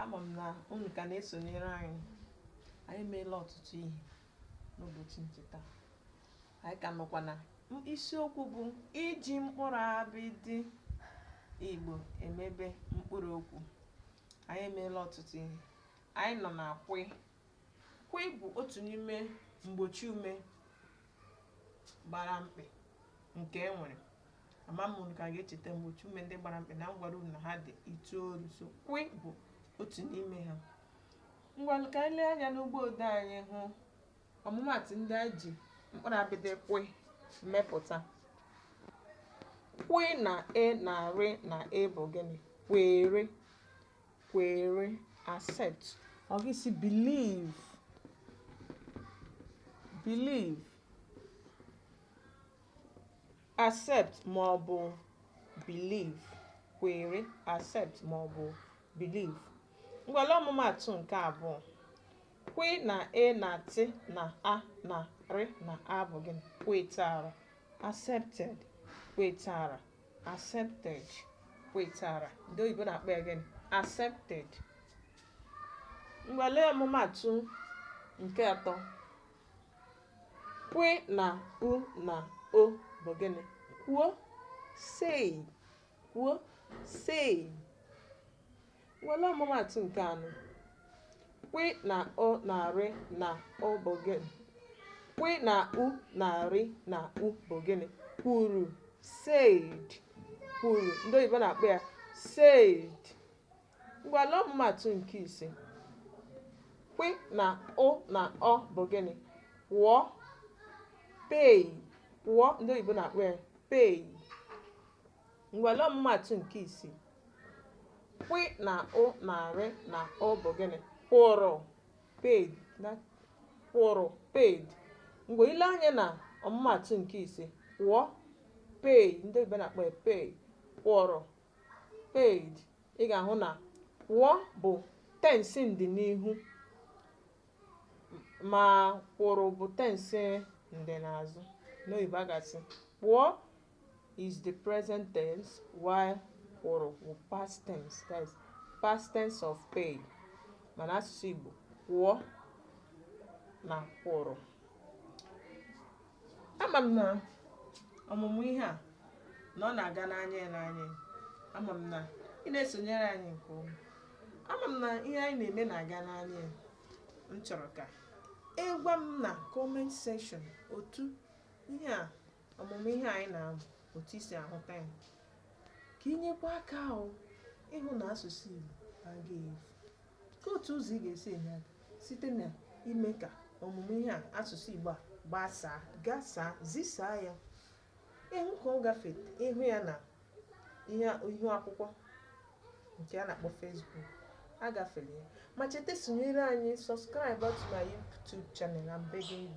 ama m na unu ka na-esonyere anyị anyị emeela ọtụtụ ihe n'ụbọchị nke taa anyị ka nọkwa na isiokwu bụ iji mkpụrụ abịdị igbo emebe mkpụrụ okwu anyị emeela ọtụtụ ihe anyị nọ na kwi Kwi bụ otu n'ime mgbochi ume gbara mkpị nke e nwere. Ama m unu ka ga-echeta mgbochi ume ndị gbara mkpị na m gwara unu na ha dị itoolu so kwi bụ otu n'ime ha. Ngwanụ ka anyị lee anya n'ugbo ode anyị hụ ọmụmaatụ ndị anyị ji mkpụrụ abịdị kwi mepụta. Kwi na e na rị na e bụ gịnị? Kwere. kwere accept ọ gị si believe believe accept ma ọ bụ believe kwere accept ma ọ bụ believe ngwa lee ọmụmaatụ nke abụọ kwi na e na tị na a na rị na a bụ gịnị kwetara accepted kwetara accepted kwetara ndị oyibo na-akpọ ya gịnị accepted ngwa lee ọmụmaatụ nke atọ kwi na u na o bụ gịnị kwuo say kwuo say Ngwa lee ọmụmaatụ nke anọ. Kwị na o na rị na o bụ gịnị? Kwị na u na rị na u bụ gịnị? Kwuru, said. Kwuru, ndị oyibo na-akpọ ya said. Ngwa lee ọmụmaatụ nke ise. Kwị na ụ na ọ bụ gịnị? Kwụọ, pay. Kwụọ, ndị oyibo na-akpọ ya pay. Ngwa lee ọmụmaatụ nke isii. Kwị na ụ na rị na ụ bụ gịnị? Kwụrụ paid kwụrụ paid. Ngwa i lee anya na ọmụmaatụ nke ise kwụọ pay ndị oyibo na-akpọ ya pay kwụrụ paid ị ga-ahụ na kwụọ bụ tensi ndịnihu ma kwụrụ bụ tensi ndịnazụ n'oyibo a ga-asị kwụọ is the present tense while kwụrụ wụ past tense that is past tense of paid ma n'asụsụ Igbo kwụọ na kwụrụ ama m na ọmụmụ ihe a na ọ na-aga n'anya ya n'anya ya. ama m na ị na-esonyere anyị nke ọma ama m na ihe anyị na-eme na-aga n'anya ya m chọrọ ka ị gwa m na comment section otu ihe a ọmụmụ ihe anyị na-amụ otu i si ahụta ya ka ị nyekwa aka ahụ ịhụ na asụsụ Igbo agaghị efu ka otu ụzọ ị ga-esi enye aka site na ime ka ọmụmụ ihe a asụsụ Igbo a gbasaa gasaa zisaa ya ị hụ ka ọ gafee ị hụ ya na ihu akwụkwọ nke a na-akpọ Facebook agafere ya ma cheta sonyere anyị subscribe to my YouTube channel I'm begging you